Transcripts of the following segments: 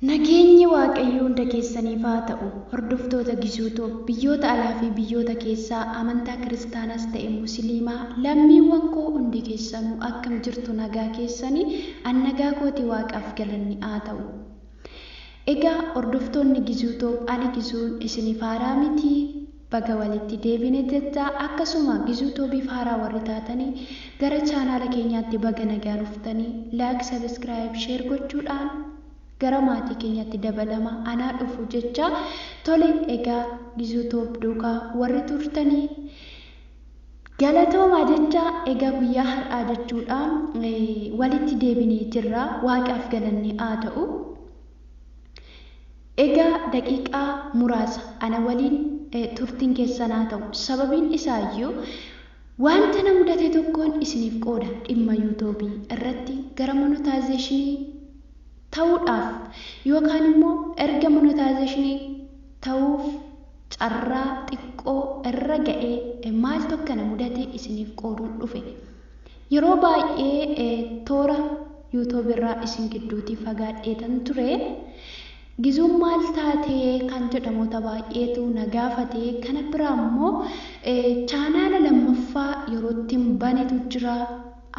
Nageenyi Waaqayyoo hunda keessaniif haa ta'u. Hordoftoota Gisuu Tube, biyyoota alaa fi biyyoota keessaa, amantaa Kiristaanas ta'e Musiliimaa, lammiiwwan koo hundi keessanuu akkam jirtu nagaa keessani? An nagaa kooti Waaqaaf galanni haa ta'u. Egaa hordoftoonni Gisuu Tube ani Gisuun isiniif haaraa miti. Baga walitti deebine jecha akkasuma Gizuu Tobiif haaraa warri taatani gara chaanaala keenyaatti baga nagaan dhuftani like subscribe share gochuudhaan gara maatii keenyaatti dabalama anaa dhufu jecha tole egaa Gizuu Tob duuka warri turtani galatoomaa jecha egaa guyyaa har'aa jechuudha walitti deebinee jirra waaqaaf galanni haa ta'u. Egaa daqiiqaa muraasa ana waliin turtiin keessan haa ta'u. Sababiin isaayyuu wanta na mudate tokkoon isiniif qooda. Dhimma Yuutoobii irratti gara monotaayizeeshinii ta'uudhaaf yookaan immoo erga monotaayizeeshinii ta'uuf carraa xiqqoo irra ga'ee maaltu akka na mudate isiniif qooduun dhufe. Yeroo baay'ee toora YouTube irraa isin gidduutii fagaadheetan ture. Gizuun maal taate kan jedhamoota baay'eetu na gaafate. Kana biraa immoo chaanaala lammaffaa yeroottin banetu jira.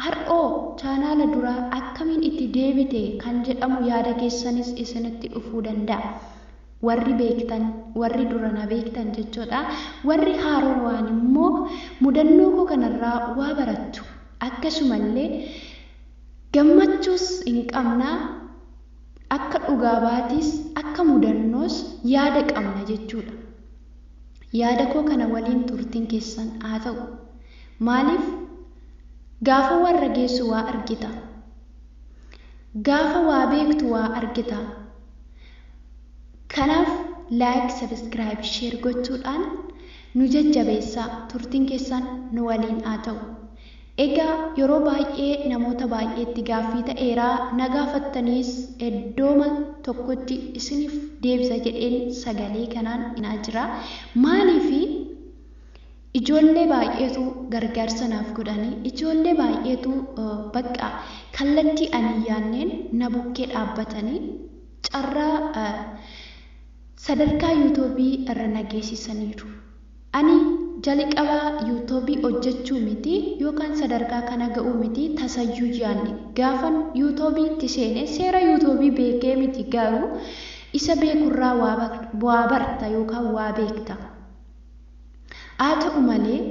Har'oo chaanaala duraa akkamiin itti deebite kan jedhamu yaada keessanis isinitti dhufuu danda'a. Warri beektan, warri dura na beektan jechoodha. Warri haarowaan immoo mudannoo koo kanarraa waa barattu. Akkasumallee gammachuus hin qabna, akka dhugaa baatiis, akka mudannoos yaada qabna jechuudha. Yaada koo kana waliin turtiin keessan haa ta'u. Maaliif gaafa warra geessu waa argita. Gaafa waa beektu waa argita. Kanaaf like subscribe share gochuudhaan nu jajjabeessaa turtiin keessan nu waliin haa ta'u. Egaa yeroo baay'ee namoota baay'eetti gaaffii ta'eera na gaafattaniis eddooma tokkotti isiniif deebisa jedheen sagalee kanaan inaa jira. Maaliifi ijoollee baay'eetu gargaarsa naaf godhanii ijoollee baay'eetu bakka kallattii ani hin yaanneen na bukkee dhaabbatanii carraa sadarkaa youtube irra na geessisaniiru. Ani jaliqaba youtube hojjachuu miti yookaan sadarkaa kana ga'uu miti tasayyuu yaanne. Gaafan youtube itti seene seera youtube beekee miti garuu isa beekurraa waa barta yookaan waa beekta. Haa ta'u malee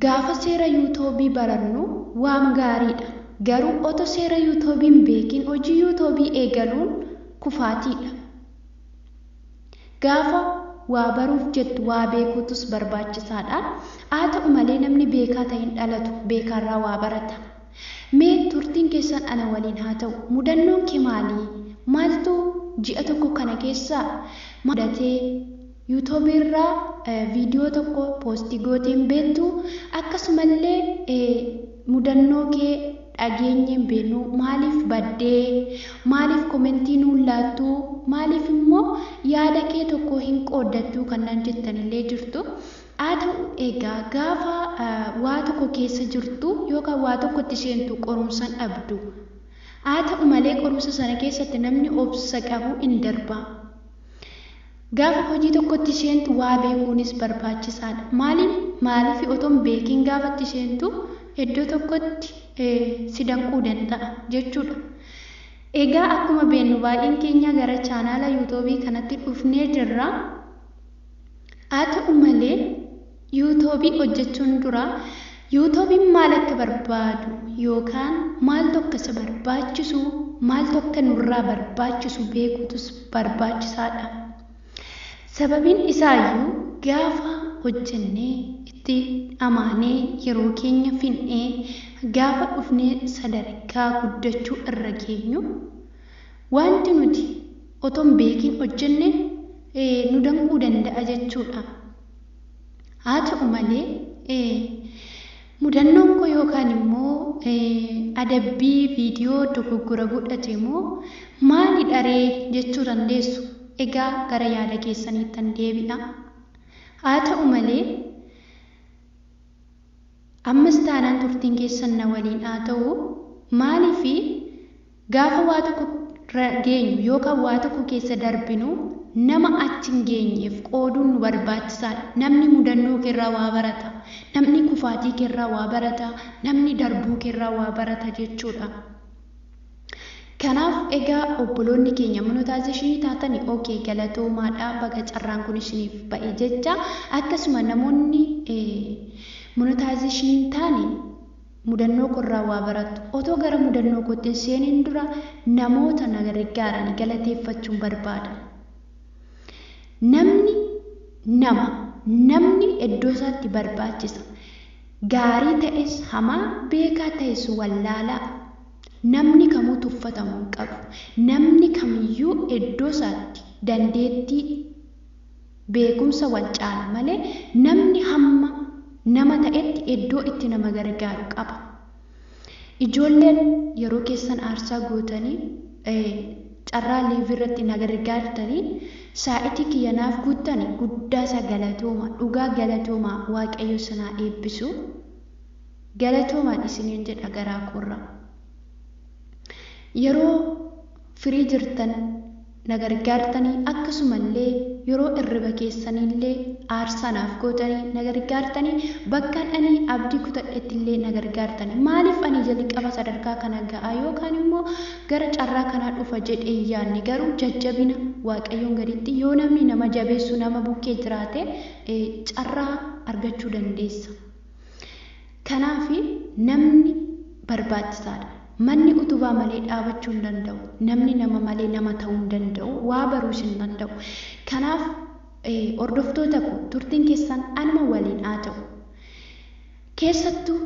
Gaafa seera yuutobii barannu waam gaariidha. Garuu oto seera yuutobii hin beekiin hojii yuutobii eegaluun kufaatiidha. Gaafa waa baruuf jettu waa beekuutus barbaachisaadha. Haa ta'u malee namni beekaa ta'e hin dhalatu, beekaarraa waa barata. Mee turtiin keessan ana waliin haa ta'u. Mudannoon kee maalii? Maaltu ji'a tokko kana keessa mudatee? Youtube irraa video tokko post gootee hin beektu akkasumallee mudannoo kee dhageenyee hin beeknu maaliif baddee maaliif komentii nuun laattu maaliif immoo yaada kee tokko hin qooddattu kan naan jettanillee jirtu haa ta'u egaa gaafa waa tokko keessa jirtu yookaan waa tokkotti seentu qorumsan dhabdu haa ta'u malee qorumsa sana keessatti namni obsa qabu hin darba Gaafa hojii tokkotti seentu waa beekuunis barbaachisaadha. Maaliif? Maaliif otoo hin beekiin gaafa itti seentu iddoo tokkotti si danquu danda'a jechuudha. Egaa akkuma beennu baay'een keenyaa gara chaanaala yuutoobii kanatti dhufnee jirra. Haa ta'u malee Yuutobii hojjachuun dura Yuutobin maal akka barbaadu yookaan maaltu akka isa barbaachisu, maaltu akka nurraa barbaachisu beekuutus barbaachisaadha. Sababiin isaayyuu gaafa hojjannee itti dhamaanee yeroo keenya fin'ee gaafa dhufnee sadarkaa guddachuu irra geenyu waanti nuti otoo hin beekiin hojjanne nu danquu danda'a jechuudha. Haa ta'u malee, mudannoon koo yookaan immoo adabbii viidiyoo dogoggora godhate moo maalidha ree jechuu dandeessu. Egaa gara yaada keessaniittan deebi'a. Haa ta'u malee, ammas taanaan turtiin keessan na waliin haa ta'u. Maaliif Gaafa waa tokko irra geenyu yookaan waa tokko keessa darbinu nama achi hin geenyeef qooduun nu barbaachisaadha. Namni mudannoo keerraa waa barata. Namni kufaatii keerraa waa barata. Namni darbuu keerraa waa barata jechuudha. Kanaaf egaa obboloonni keenya monetization taatanii ok galatoomaadha baga carraan kun isiniif ba'e jecha akkasuma namoonni monetization taane Mudannoo koorraa waa barattu. Otoo gara mudannoo kootti hin seeniin dura namoota na gariggaarani galateeffachuun barbaada. Namni nama. Namni eddoo isaatti barbaachisa. Gaarii ta'es hamaa, beekaa ta'es wallaalaa. Namni kamuu tuffatamu hin qabu. Namni kamiyyuu eddoo isaatti dandeettii. beekumsa wal caala malee namni hamma nama ta'etti eddoo itti nama gargaaru qaba. Ijoolleen yeroo keessan aarsaa gootanii carraa live irratti na gargaartanii saa'itii kiyya naaf guuttani guddaasaa galatooma dhugaa galatooma waaqayyo isin haa eebbisu galatoomaan isiniin jedha garaa koorra yeroo firii jirtan na gargaartanii akkasumallee yeroo irriba keessaniillee aarsaa naaf gootanii na gargaartanii bakkan ani abdii kutadhettillee na gargaartanii maaliif ani jalqaba sadarkaa kana ga'a yookaan immoo gara carraa kanaa dhufa jedhee hin yaadne garuu jajjabina waaqayyoon gaditti yoo namni nama jabeessu nama bukkee jiraate carraa argachuu dandeessa. Kanaaf namni barbaachisaadha. Manni utubaa malee dhaabachuu hin danda'u. Namni nama malee nama ta'uu hin danda'u. Waa baruus hin danda'u. Kanaaf hordoftoota koo turtiin keessan anuma waliin haa ta'u. Keessattuu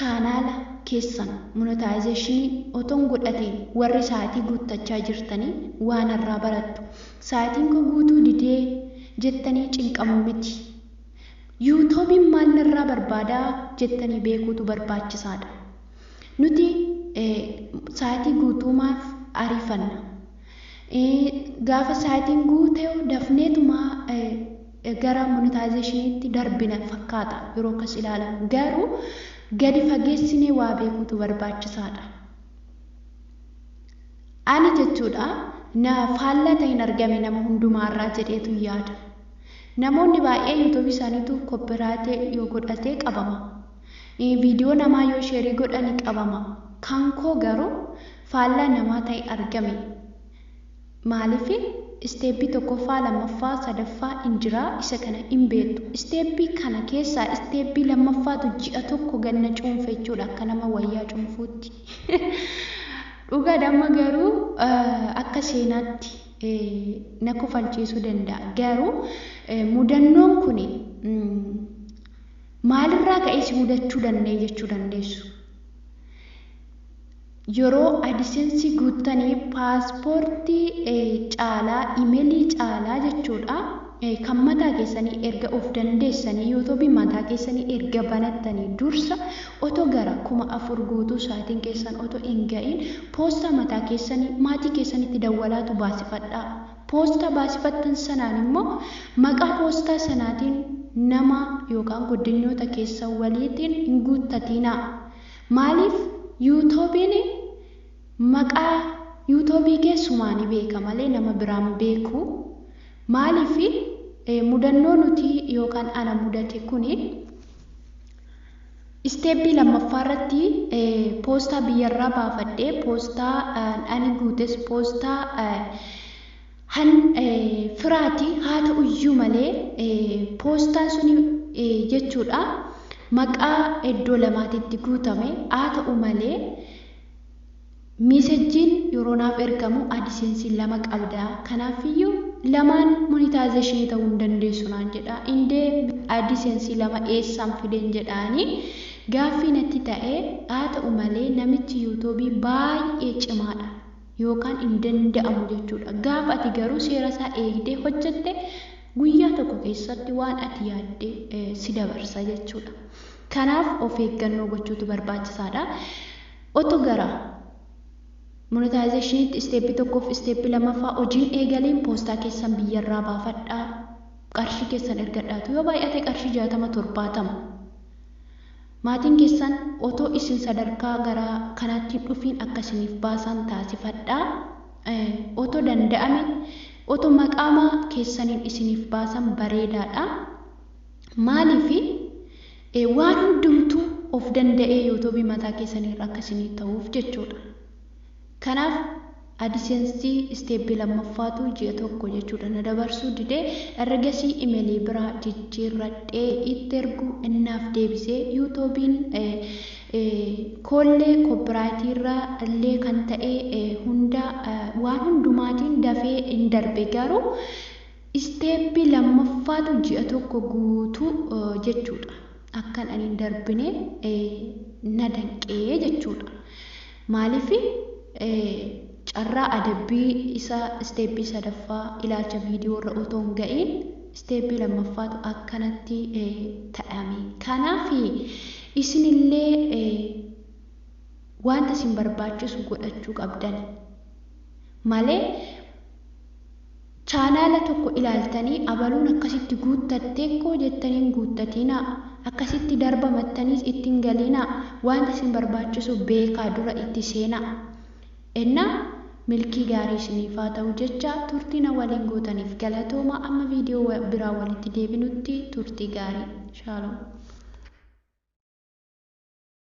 chaanaala keessan monetization otoon godhatee warri sa'aatii guuttachaa jirtanii waan irraa barattu. Sa'aatiin koo guutuu didee jettanii cinqamuu miti. Yuutobiin maal narraa barbaada jettanii beekuutu barbaachisaadha. Nuti sa'atii guutuumaaf ariifanna. Gaafa sa'atiin guute dafneetuma gara monetaayizeeshiniitti darbina fakkaata yeroo akkas ilaalamu. Garuu gadi fageessinee waa beekuutu barbaachisaadha. Ani jechuudha na faallaa ta'e hin argame nama hundumaarraa jedheetu yaada. Namoonni baay'ee youtube isaanitu copyright yoo godhate qabama. Video namaa yoo share godhani qabama. Kan koo garuu faallaa namaa ta'e argame. Maaliif step tokkoffaa lammaffaa sadaffaa in jira isa kana in beektu. Step kana keessaa step lammaffaatu ji'a tokko gad na cuunfe jechuudha akka nama wayyaa cuunfuutti. Dhugaadha amma garuu akka seenaatti. na kofalchiisuu danda'a. Garuu mudannoon kun maalirraa ka'ee si mudachuu danda'e jechuu dandeessu. Yeroo adisensii guuttanii paaspoortii caalaa imelii caalaa jechuudha. kan mataa keessanii erga of dandeessanii youtube mataa keessanii erga banattanii dursa otoo gara kuma afur guutuu saatiin keessan otoo hin ga'iin poostaa mataa keessanii maatii keessanitti dawwalaatu baasifadhaa poostaa baasifattan sanaan immoo maqaa poostaa sanaatiin nama yookaan goddanyoota keessan waliitiin hin guuttatiinaa maaliif yuutuubiin maqaa yuutuubii kee sumaani beeka malee nama biraan beeku Maaliif mudannoo nuti yookaan ana mudate kuni isteeppii lammaffaa irratti poostaa biyyarraa baafadhee poostaa ani guutes poostaa han firaati haa ta'uyyuu malee poostaan suni jechuudha maqaa iddoo lamaatitti guutame haa ta'u malee Mesejjiin yeroo naaf ergamu adsense lama qabda kanaaffiyyuu lamaan monetization ta'uu hin dandeessu naan jedha indee adsense lama eessaan fideen jedhaani gaaffii natti ta'e haa ta'u malee namichi youtube baay'ee cimaadha yookaan hin danda'amu jechuudha gaafa ati garuu seera isaa eegdee hojjette guyyaa tokko keessatti waan ati yaadde si dabarsa jechuudha kanaaf of eeggannoo gochuutu barbaachisaadha. Oto gara Monetizationitti step tokkof step lamaffaa hojii hin eegaliin poostaa keessan biyyarraa baafadhaa qarshii keessan ergadhaa tu yoo baay'ate qarshii jaatama torbaatama maatiin keessan otoo isin sadarkaa gara kanaatti hin dhufiin akka isiniif baasaan taasifadhaa oto danda'ame oto maqaama keessaniin isiniif baasan bareedaadha maaliif Ee waan hundumtuu of danda'ee youtube mataa keessanii irra akka isinii ta'uuf jechuudha. Kanaaf adsense step lammaffaatu ji'a tokko jechuudha na dabarsuu dide ergasii imelii biraa jijjiirradhee itti ergu innaaf deebise youtubiin koollee copyright irra illee kan ta'ee hunda waan hundumaatiin dafee hin darbe garuu Isteeppii lammaffaatu ji'a tokko guutuu jechuudha. Akkan ani hin darbine na danqe jechuudha. Maaliif carraa adabbii isa isteeppii sadaffaa ilaalcha viidiyoo irra otoo hin ga'iin isteeppii lammaffaatu akkanatti ta'ame. Kanaaf isinillee wanta isin barbaachisu godhachuu qabdan malee Chaanaala tokko ilaaltanii abaluun akkasitti guuttatteekkoo jettanii hin guuttatiinaa. Akkasitti darbamattaniis itti hin galiinaa. Waanta isin barbaachisu beekaa dura itti seenaa. Enna milkii gaarii isiniif haa ta'u jechaa turtii na waliin gootaniif galatoomaa amma viidiyoo biraa walitti deebinutti turtii gaarii. Shalom.